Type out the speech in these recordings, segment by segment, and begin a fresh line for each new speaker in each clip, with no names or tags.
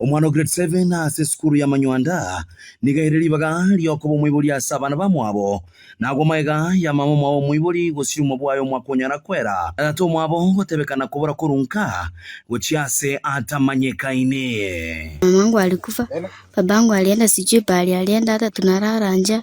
Omwana o grade seven ase esukuru y'amanywanda nigo ere ribaga ri'okoba omoibori ase abana bamwabo. Nagwo magega ya mama omwabo omoibori gosio omoa bwaye omwaka onyara kwera, na tata omwabo gotebekana kobora korwa nka gochia ase atamanyekaine. Mamangu
alikufa, babangu alienda sijui pahali alienda hata tunalala njaa.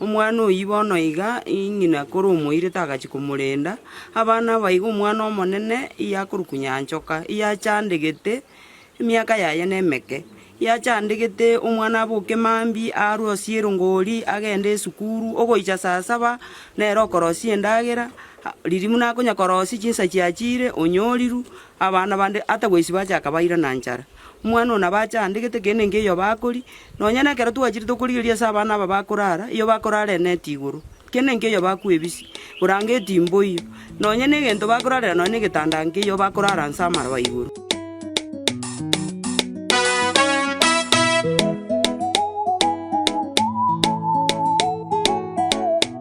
Omwana oyio bono iga ng'ina kore omoiri tagachia komorenda, abana aba iga omwana omonene iye akorokwa Nyanchoka, iye achandegete, emiaka yaye nemeke, iye achandegete omwana aboke mambia arwe osie erongori agende esukuru, ogoicha saa saba nere okorosia endagera, riria buna akonya korosia chinsa chiachire onyorirwe, abana bande ata goisiba acha akabairana nchara. Omwana oo nabo ache aande gete keene nkeiyo bakori, nonya nekero twachire tokorigereria ase abana aba bakorara, iyo bakorara eneti igoro, keene nkeiyo bakwa ebisi, burangeti mboiyo, nonya negento bakorarera nonya negetanda nkeiyo bakorara nse amaroba igoro.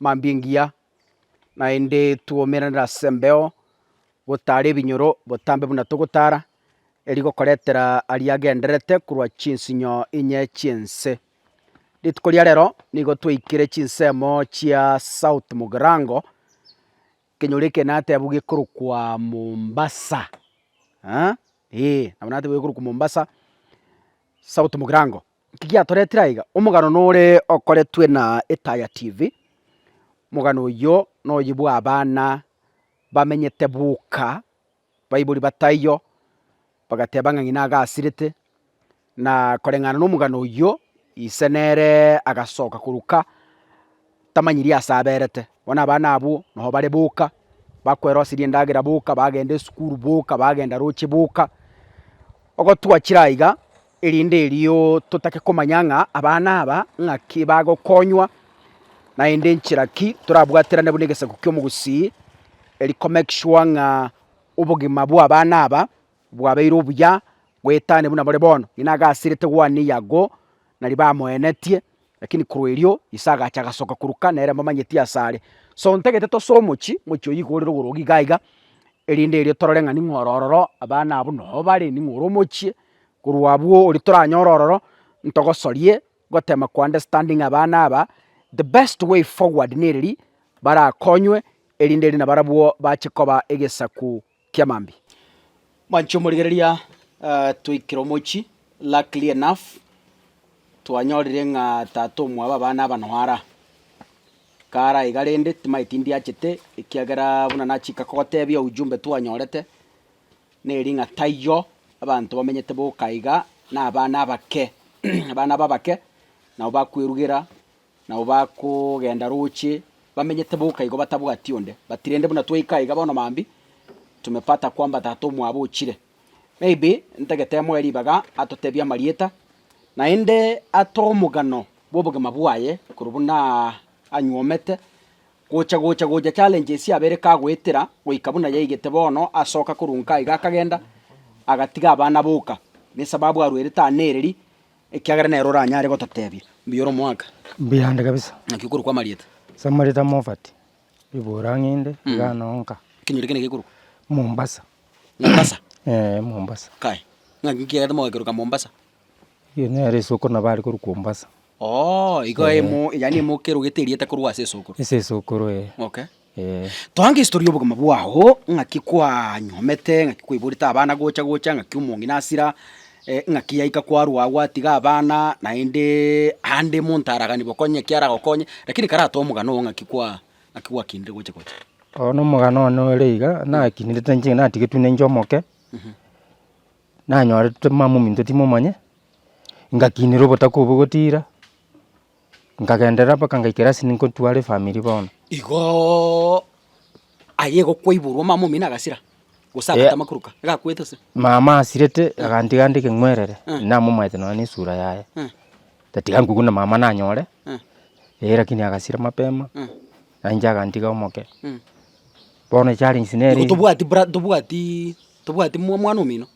mambia engiya, naende twoumeranere as'embeo gotaara ebinyoro botambe buna togotaara, erio gokoretera aria agendererete korwa chinsinyo inye chi'ense. Rituko ria rero nigo twaikire chinsemo chia South Mugirango, ekenyoro eke natebwa gekorokwa Mombasa, aa eeh, nabo natebwa gekorokwa Mombasa, South Mugirango. Kigiatoretire aiga, omogano nore okoretwe na Etaya TV, omogano oyio noyio bw'abana bamenyete boka, baibori bataiyo, bagateba ng'a ng'ina agasirete, na koreng'ana nomogano oyio, ise nere agasoka korwa ka. tamanyiri aase aberete. Bono abana abwo nao bare boka, bakwerosirie endagera boka, bagenda esukuru boka, bagenda roche boka, ogotwa chire aiga, erinde erio totake komanya ng'a abana aba ng'aki bagokonywa, naende nchera ki torabwaterane buna egesaku ki'omogusii, eri komake sure ng'a obogima bw'abana aba bwabeire obuya, goetania buna bore bono. Ng'ina agasirete gwaneiyo ago, nari bamoenetie, Lakini korwa erio Yeso agacha agasoka korwa Kana ere amamanyeti asare. So ntagete tose omochie, omochie oyio igoro rigoroge iga iga, erinde erio torore ng'a ning'o oro ororo, abana abwo noo bare, ning'o ore omochie, korwa abwo oria toranyore ororo, ntogosorie gotema ko understanding abana aba, the best way forward nereri barakonywe, erinde eri nabarabwo bache koba egesaku. kia mambia. Mwanchi omorigereria, twaikire omochie luckily enough, twanyorire ng'a tata omwabo abana aba noo ara. Kare aiga rende timaeti ndiachete ekiagera buna nachika kogotebia ujumbe twanyorete, neri ng'a taiyo abanto bamenyete boka iga, na abana abake abana aba abake nabo bakwerugera. Nao bakogenda roche, bamenyete boka igo batabwati onde, but rende buna twaika aiga bono mambia tumepata kwamba tata omwabo ochire. Maybe ntagete amoe ribaga atotebie amarieta, naende atoe omogano bw'obogima bwaye korwa buna anyuomete gocha gocha gocha challenges yabo ere kagoetera goika buna yaigete bono asoka korwa nka iga akagenda agatiga abana boka, nesababu arwerete aa nereri, Ekiagera nere oranyare gototebia, Mbuya ore omoaka. Mbuya ande kabisa.
Naki okorokwa amarieta.
Ase amarieta Mofati,
Ibora ng'ende, Igana onka. Ekenyoro ekio negekorokwa.
Mombasa.
Mombasa? Ee, Mombasa. Kae. Naki kiagete
mogakeroka Mombasa? Eyio nere
esoko nabo are korwa Kombasa. Oo, igo
emo, yaani emo okerogete erieta korwa ase esokoro. Ase esokoro ee. Okay.
Toa
ngehistori y'obogima bwao, ng'aki kwanyuomete, ng'aki kwaiborete abana gocha gocha, ng'aki omong'ina asira, ng'aki yaika kwarwa agwo atiga abana, naende ande monto araganigwe okonye eki aragokonye, rakini karatoe omogano oo ng'aki kwa ng'aki gwakinire gocha gocha. Oo na omogano
one ore iga, nakinirete inche natigetwe na inche omoke, nanyorete mama ominto timomonyete, ngakinera obotaku obwo gotiira. Nkagenderera mpaka ngaikera ase nintware efamiri bono. Igo
aye gokwaiborwa omama omino agasira, gose agata amakuruka, agakwete ase. Mama asirete
agantiga nde keng'werere, namomaete nonya nesura yaye, tatiga nkoguna mama nanyore, eh lakini agasira mapema, nainche agantiga omoke. Bono echallenge nere. Igo tobwati bra- tobwati tobwati mwa- mwana omino.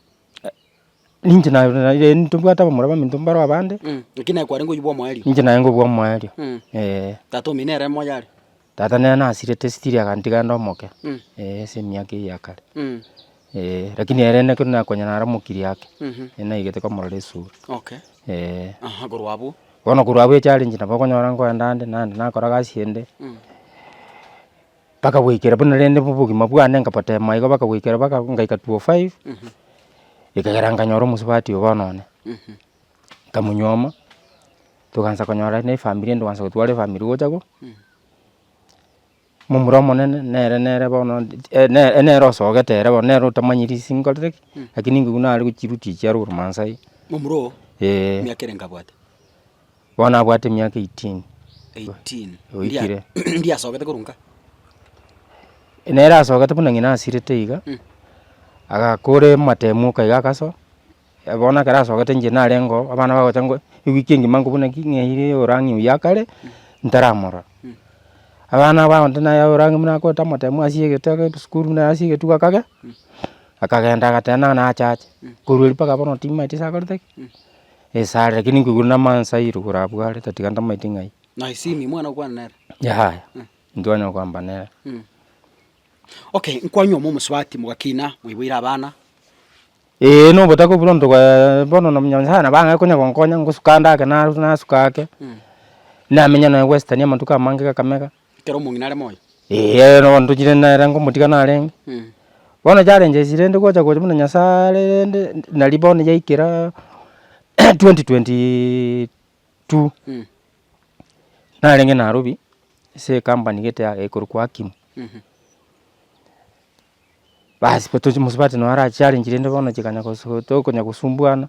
Ninche na- na- eh, ntobwate abamura baminto mbaro abande, Mm, naki naye kwarenge oyio
bw'omoerio. ninche naye ngobua omoerio.
Mm. Eh, Tata
omino ere moyo are. tata nere
nasirete still agantiga ande omoke, Mm. eh, ase emiaka eyio ya kare. Mm. Eh, lakini ere naki runa konya nare omokiri ake, Mhm. eh, naigete komorora esura. Okay.
Eh, Aha, korwa abwo. bono korwa abwo
echallenge nabo okonyora nkoenda ande, naende nakora gasi ende, Mm. Bakagwekera buna rende obogima bwane nkabatema igo bakagwekera baka ngaika two o five, ekegera nkanyora omosubati oo bono one, nkamonyuoma, togansa konyora na efamiri ende gwansa gotwara efamiri gocha ko, momura omonene nere nere bono eh nere nere osogete ere bono nere otamanyeti ase nkorire ki, lakini nigo nare gochirutia echiaro korwa mansa iga. Momura oo?
Eeh. Emiaka ere nkabwate. Bono
abwate emiaka eighteen. Eighteen.
Oikire. Ndiasogete korwa nka? Nere
asogete buna ng'ina asirete iga, agakora ematemu oka iga agasoa, bono ekero asogete inche narenge oo, abana bagocha ngo ewiki engima nkobuna ki ng'eire orang'i oyio akare, ntaramorora. Abana aba abanto naye orang'i buna akorete amatemu asiegetwe agende sukuru buna asiegetwe igo akagenda, akagenda agateba nang'ana acha ache, korwa erio mpaka bono timaeti ase akorete ki. Esare lakini nkoigure namansa aa irogoro abwo are tatiga ntamaeti ng'ai. Na Isimi mwana
okwana nere? Yaya,
ntitwanyara kwamba nere.
Okay, nkwanyuoma omosubati mogakina, moiboire abana. Ee,
na obotaka buna onto gwaye bono na muna Nyasaye nabo ang'ake konya gonkonya ngosuka ande ake naru nasuka ake, namenya nonya goesitania amatuko amange Kakamega. Ekero omong'ina are moyo.
Eeh no ndochire
nere ngomotiga narenge. Bono challenge esi rende gocha gocha buna Nyasaye are rende nari bono yaikera twenty twenty two narenge Nairobi ase ecompany gete ya ekorokwa Hakim. Baas mosubati naro achiarenge rende bono chikanya gosu tokonya gosumbuana.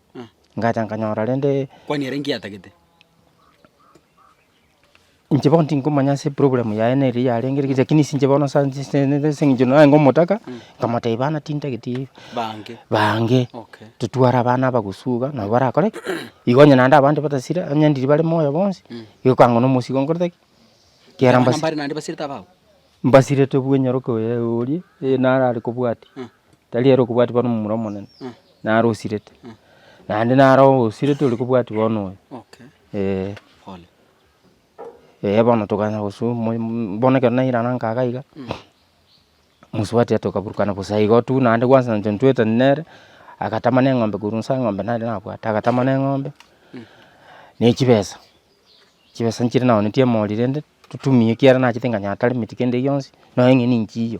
ngacha nkanyora rende. Kwani ere inki atagete? Inche bono tinkomanya ase eprogramu yaye nere eria yarenge rege lakini ase inche bono ase eng'encho naye nigo omotaka, nkamotebia bana tintageti Bange. bange, Okay. totware
abana abagusu
iga nabo barakore ki? Igo onye naende abande batasira, onye ndiri bare moyo bonsi,
igo
ekang'u na omosigo nkorete
ki? Kiara Abana
mbasi- mbare naende basirete abao? mbasirete bwa enyaroke oye oria, eh, narare kobwatia. Tari ere okobwati bono momura omonene, naro osirete, naende naro osirete oria kobwati bono oyo, eh. Eh bono tokana gosubwa moyo moyo bono ekero nairana nkaga iga, mosubati tokaburukana bosa igo tu, naende gwansa intwe ntwetani nere, agatama na eng'ombe korwa nse eng'ombe nare nabwate, agatama na eng'ombe, na echibesa, chibesa nchire naonetie emori rende, totumie ekiagera nachete nkanyaga taremeti kende gionsi, nonya onye ninchiyo.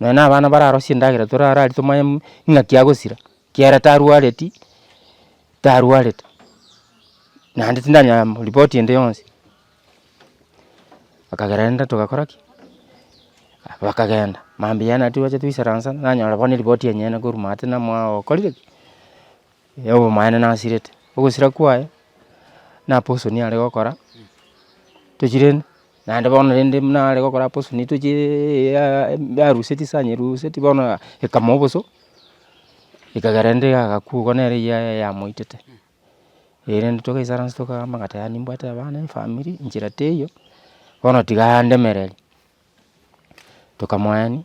Nonya na abana bararosie endagera torarari tomanye mm ing'aki agosira, ekiagera tarwareti, tarwarete, naende tindanyara mm ripoti ende yonsi. Bakagera rende togakora ki? bakagenda, mambia naende twacha toisaransa, nanyora bono eripoti yenyene korwa maate ng'a mwao okorire ki? ya obomaene nasirete, ogosira kwaye, naposoni are gokora, tochire Naende bono rende buna are gokora hapo sini etochi eye yaruseti ase anyeruseti bono ekamwa oboso, ekagera rende agakwa igo nere eyi yaye yamoitete. Eyi rende togaisana inse tokaama agati yaani nimbwate abana efamiri, enchera teiyo, bono tiga andemereri, tokamoenia.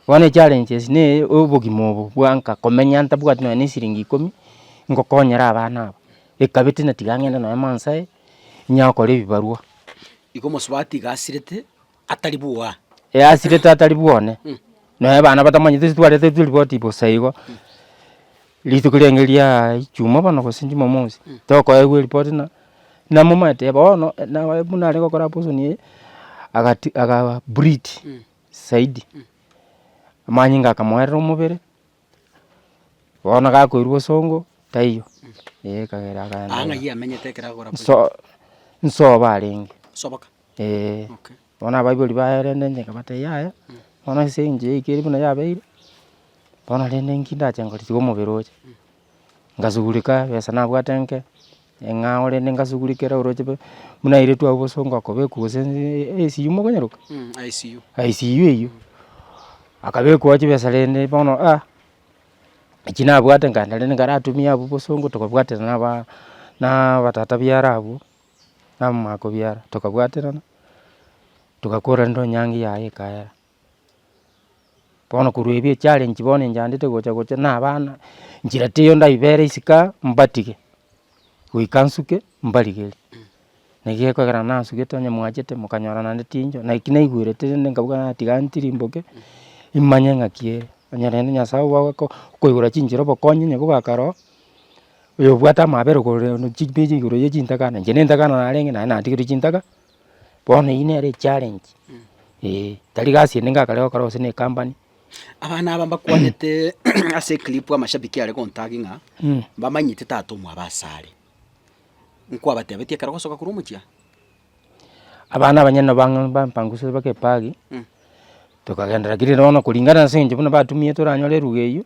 Bono echallenge ase ne obogima obo bwanka komenya ntabwati nonya ne siringi ikomi ngokonyera abana aba, ekabete na tiga ng'ende nonya mansae, inya gokora ebibarwa. Igo omosubati
iga asirete atari bwoa. Ee asirete atari
bwone, nonya abana batamanyeti ase twarete chiripoti bosa igo, rituko rende riaaa ijumaa bono gose jumamosi, tokoegwa eripoti ng'a namomanyete bono, naye buna are gokora abortion eye, agati aga breed zaidi. Amanyinga akamoerera omobere, bono gakoirwa bosongo, taiyo, eh ekagera akaenda Aa ng'a iga. yamenyete ekero
agora goika. Nso
nsobo arenge, Soboka. eh.
Okay.
Bono abaibori baerende inche nkabatebia yaya, bono ase engencho yaikire buna yabeire, bono rende inki ndache ngore tiga omobere oche. ngasugureka ebesa nabwate enke, ng'a ore ende ngasugureka ere oroche be, buna ere twabua bosa ngokobekwa gose ICU mokonyeroka? ICU. ICU eywo, akabekwa chibesa rende bono ah, echi nabwate nkaenda rende nkaratumia abwo bosongo tokabwaterana naba naa abatata biara abwo, na amamako biara, tokabwaterana, togakora rende onyangi yaye ekaera. Bono korwa ebi echarenchi bono enchandete gocha gocha na abana, nchera teiyo ndaibera isiko aa mbatige, goika nsuke mbarigerie. Naki gekogera nasugete onye mwachete mokanyora naende tincho, naki naigwerete rende nkabuga natiga ntirimboke, imanye ng'aki ere. Onye rende Nyasae ogo agoko okoigora chinchera obokonyi onye kobwaka rooo, oyobwate amabera igoro rende chibiri igoro ya chintakana, inche na entakana narenge naende natigerwa chintaka. Bono eyio nere echallenge eh, tari gasi ende ngakare gokora gose na ekampani. Abana aba
mbakwanete ase eclip amashabiki are gontag ng'a Mm. mbamanyete tata omwabo asare. Nkwabatebetie ekero ogosoka korwa omochie aa.
Abana abanyene nabo bang'e bampangusire mpaka epagi. Tokagenderera kera ere bono koringana ase eng'encho buna batumire toranyore eruga eyio,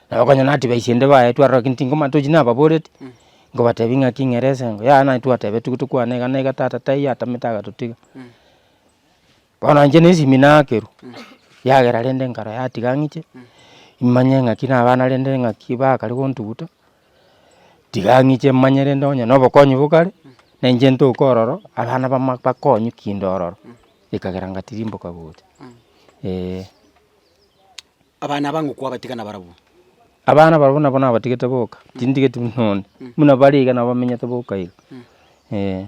nabo okonyora na advice ende baye twarora gaki tingoma tochi nababoreti, nkobatebi ng'aki ng'ere esengo yaya naye twatebetigwe tokwana iga na iga tata taiyo atamete agatotiga. Bono inche na esimi naakerwa, yagera rende nkara yatiga ng'iche, imanye ng'aki na abana rende ng'aki bakare gontuguta. Tiga ng'iche manye rende onye nobokonyi bokare, na inche ntoke ororo, abana bama bakonywe kinde ororo, ekagera ngatirimboka gocha eh.
Abana abange okwabatiga nabarabwo? Abana barabwo
nabo nabatigete boka, tindigeti buna onde, buna bare iga nabo bamenyete boka iga eh.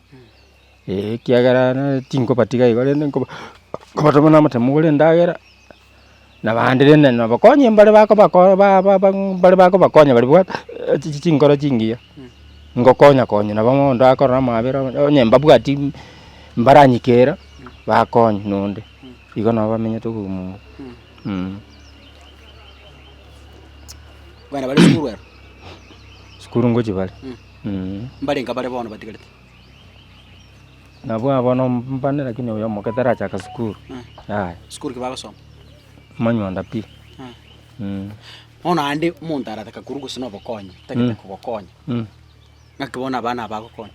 ee, ekiagera nere tinkobatiga iga rende nkoba nkobatoma na omotemo bore endagera, na abande rende nabakonye mbare bakoba ko ba ba ba mbare bakobakonya bari bwate chi chi chinkoro chingiya, ngokonya konya nabo bono ndakorora amabera onye onye mbabwati mbaranyikera, bakonye na onde, igo nabo bamenyete obomumu mh. Abana
bare sukuru aba?
Sukuru ngochia bare. mbarenge
bare bono batigarete. Nabwo
abo nomobane lakini oyo omoke tarachaka sukuru yaya. Sukuru ki
bagosoma? Amanywanda
pi.
Bono ande omonto arataka korwa gose na obokonyi tagete kogokonya, naki bono abana aba bagokonya?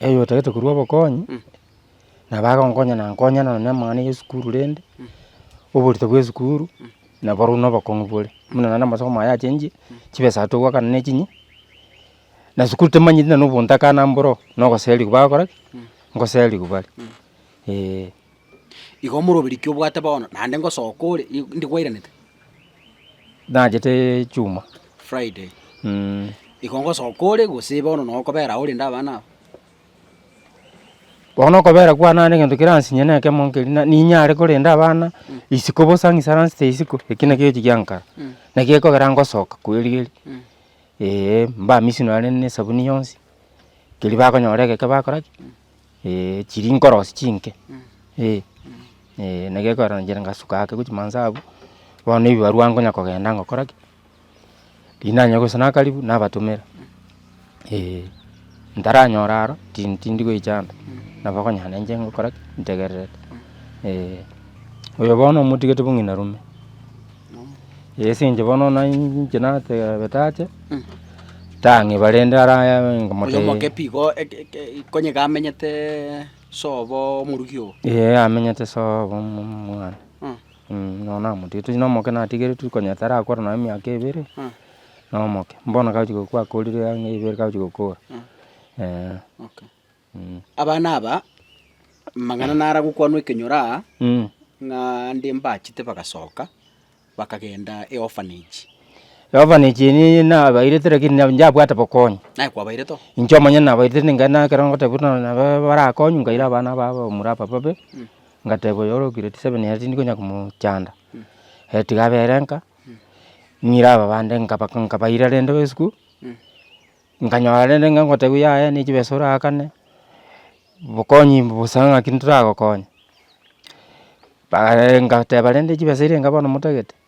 Oyo otagete korwa obokonyi, nabo agonkonya na nkonya nonya na amang'ana ya esukuru rende, oborito bwa esukuru. Na barobwo nobokong'u bore, buna naende amache komoa yachenchire, chibesa aria togwakana na echinyi, na sukuru temanyeti na obontakana mboro oo, na ogoserigwa bagokora ki? ngoserigwa bare, eeh.
Igo omoro obe rikia obwate bono, naende ngosoka ore, ri- rinde kwairanete? Nacheteee
chuma. Friday.
Igo ngosoka ore gose bono nokobera aho orende abana aba.
Bono okobera kwane ande egento keransinye na ekemo nkeri na ninyare korenda abana isiko bosa ng'ise aransete isiko, eki naki egechi giankara, naki gekogera ngosoka kweri eh, mbamisi nonye na esabuni yonsi, keri bakonyora egeke bakora ki eh, chiri nkorosi chinke eh, eh naki gekogera nchire ngasuka ake gochia mansa abwo, bono ebibarwa nkonya kogenda ngokora ki. Rinanye gose nakaribu nabatomera, eh. Ntaranyora aro tin- tindi goicha ande, nabo okonyora nainche ngokora ki? Ntegererete, eh. Oyo bono omotigete bo ng'ina rome, ase inche bono nainche nateebete ache, tang'iba rende ara Oyo omokepi igo eke-
eke- ekonyeka amenyeteee sobo omoruki oo. Eeh amenyete
sobo omo- omwana. Nonya namotieti onye nomoke natigeretie konya tarakora nonya emiaka ebere, nomoke, bono kagochia gokwa akorire ang'e ibere kagochia gokora, eh.
Abana aba, amang'ana naro agokwanwa ekenyoro aa, ng'a nde mbachete bagasoka, bakagenda eorphanage. Eorphanage eria eye nabairete lakini
nabo njabwate bokonyi. Naye kwabairete oo?
Inche omonyene nabairete
ninkaenda ekero ngotebiwa buna nabo barakonywe nkaira abana aba abamura aba babe. ngateba oyo ore grade seven ere tindi konya komochanda, ere tiga abe ere nka, ng'ire aba bande nkaba nkabaira rende esiko, nkanyora rende ng'a ngotebiwa yaya ne chibesa oragakane, bokonyi bosa ng'aki ntoragokonya, bae ngateba rende chibesa eria enka bono motagete.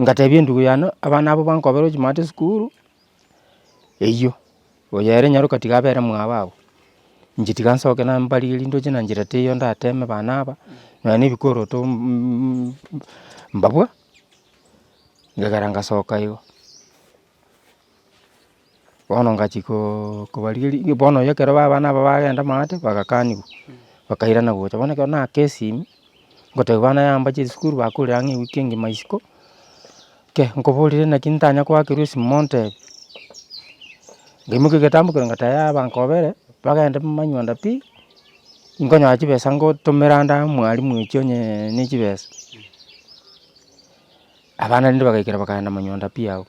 Ngatebia endugu yane, abana abwo bankobera ochimate esukuru, eywo, oyo ere nyaroka tiga abere mwabo abwo, inche tiga nsoke nambarigerie nindoche na njera teiyo ndateme bana aba, nonya na ebikoroto mbabua, ngakera ngasoka igo. Bono ngachia koooo kobarigeria, iywe bono oyo ekero baba nabo bagenda maate, bagakanigwa, bakairana gocha. Bono ekero naka esimi, ngotebi bana yambacha esukuru bakorire ang'e ewiki engima isiko, kei, nkoborire naki ntanya koakerwa esimo montebi, nkaimoka egetambe korwa ngata yaya abanto babere, bagende manywanda pi, nkonyora chibesa ngotomera ande mwarimu oiche onyeeee ne chibesa. Abana rende bagaikera bakaenda manyonda pi agwo,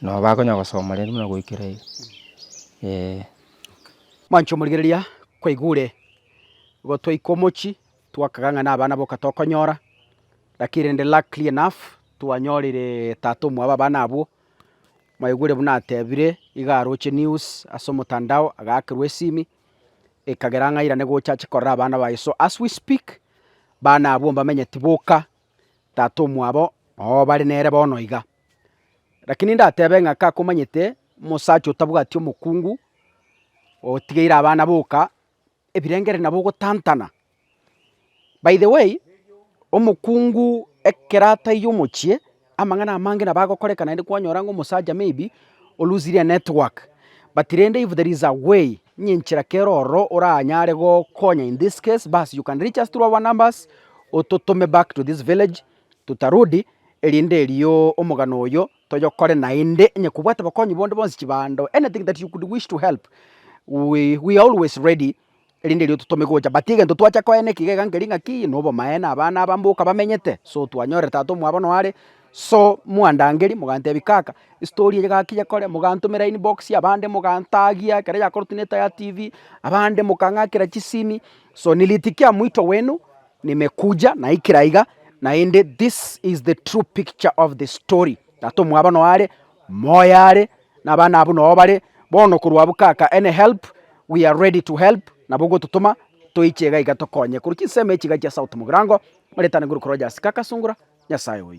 nabo bakonya gosoma rende buna goikera iga eh.
Mwancho omorigereria kwaigure, igo twaika omochie, twakaga ng'a nabana boka tokonyora, lakini rende luckily enough, twanyorire tata omwabo abana abwo, mwaigure buna atebire, iga aroche news ase omotandao, agakerwa esimi. ekagera ng'airane gocha ache korera abana baye. So as we speak, bana abwo mbamenye tiboka, tata omwabo noo bare nere bono iga. Rakini ndatebe ng'a kakomanyete omosacha otabwati omokungu, otigeire abana boka, ebirengereri nabo ogotantana. By the way, omokungu ekero ataiyo omochie, amang'ana amange nabo agokoreka naende kwanyora ng'a omosacha maybe o loosire a network, but rende if there is a way, ng'a enchera kere ororo oranyare gokonya in this case, bas you can reach us through our numbers, ototome back to this village, tutarudi, erinde erio omogano oyo toyokore naende onye kobwate bokonyi bonde bwonsi, chibando, anything that you could wish to help, we are always ready. erinde erio totome gocha. But egento twacha koena ekiga iga nkeri ng'a ki, nobomaene abana aba mboka bamenyete, so twanyorire tata omwabo nonya are, so mwandangeri mogantebia kaka estory eye gaki yekore, mogantomera inbox, abande mogantagia ekero yakorotire neta ya tv, abande mokang'akera chisimi, so nilitikia mwito wenu, nimekuja, naikire aiga, naende this is the true picture of the story, tata omwabo nonya are, moyo are. Na abana abwo nao bare bono korwa abwo kaka any help we are ready to help nabo ogototoma toiche iga iga tokonye korwa chinsemo echi iga chia south mogirango maretane nguru koroja ase kaka sungura nyasaye oyo.